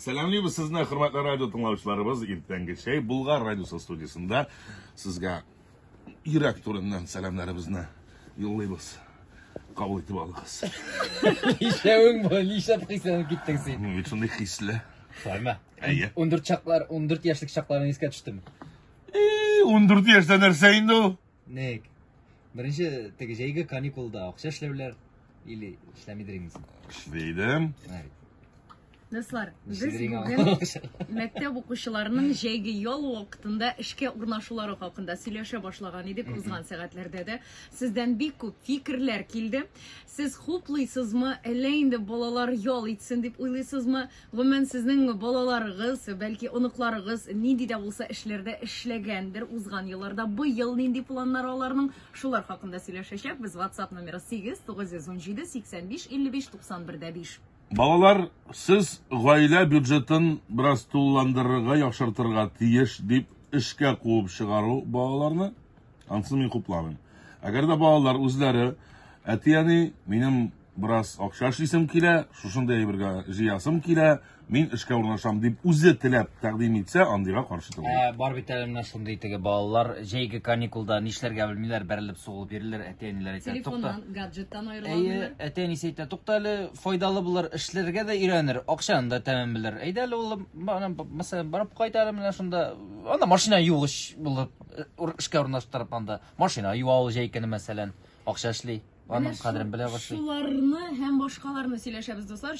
Сәламлибез сезне, хөрмәтле радио тыңлаучыларыбыз. Иртәнге чәй Булгар радиосы студиясендә сезгә йөрәк түреннән сәламнәребезне юллыйбыз. Кабул итеп алыгыз. Ишәвең бу, нишләп хисләнеп киттең син? Мин бит шундый хисле. Шулаймы? Әйе. 14 чаклар, 14 яшьлек чакларны искә төштем. 14 яшьтә нәрсә инде ул? Ник? Беренче теге җәйге каникулда акча эшләүләр или эшләмидер инде. син? Эшли идем. Менә бит. Дуслар, без Эшлидер иң бүген авыр акча. мәктәп укучыларының җәйге ял вакытында эшкә урнашулары хакында сөйләшә башлаган идек узган сәгатьләрдә дә. Сездән бик күп фикерләр килде. Сез хуплыйсызмы, әллә инде балалар ял итсен дип уйлыйсызмы? Гомумән, сезнең балаларыгыз, бәлки, оныкларыгыз нинди дә булса эшләрдә эшләгәндер узган елларда. Быел нинди планнары аларның? Шулар хакында сөйләшәчәкбез. WhatsApp номеры 8-917-85-55-91-5. Балалар, сез гаилә бюджетын бераз тулыландырырга, яхшыртырга тиеш, дип эшкә куып чыгару балаларны, ансын мин хупламыйм. Әгәр дә балалар үзләре, әти-әни, минем бераз акча эшлисем килә, шушындый әйбергә җыясым килә, мин эшкә урнашам дип үзе теләп тәкъдим итсә, андыйга каршы түгел. Ә, бар бит әле менә шундый теге балалар, җәйге каникулда нишләргә белмиләр, бәрелеп сугылып йөриләр, әти-әниләр әйтә, тукта. Телефоннан, гаджеттан аерыла Әйе, алмыйлар. әти-әнисе әйтә, тукта әле, файдалы булыр, эшләргә дә өйрәнер, акчаны да тәмен белер. Әйдә әле, улым, бана, б- мәсәлән, барып кайт әле менә шунда, анда машина югыч булып, э, ур- эшкә урнаштырып анда, машина юа ул җәй көне, мәсәлән. Акча эшли. Аның кадерен белә башлый. Шуларны һәм башкаларны сөйләшәбез, дуслар.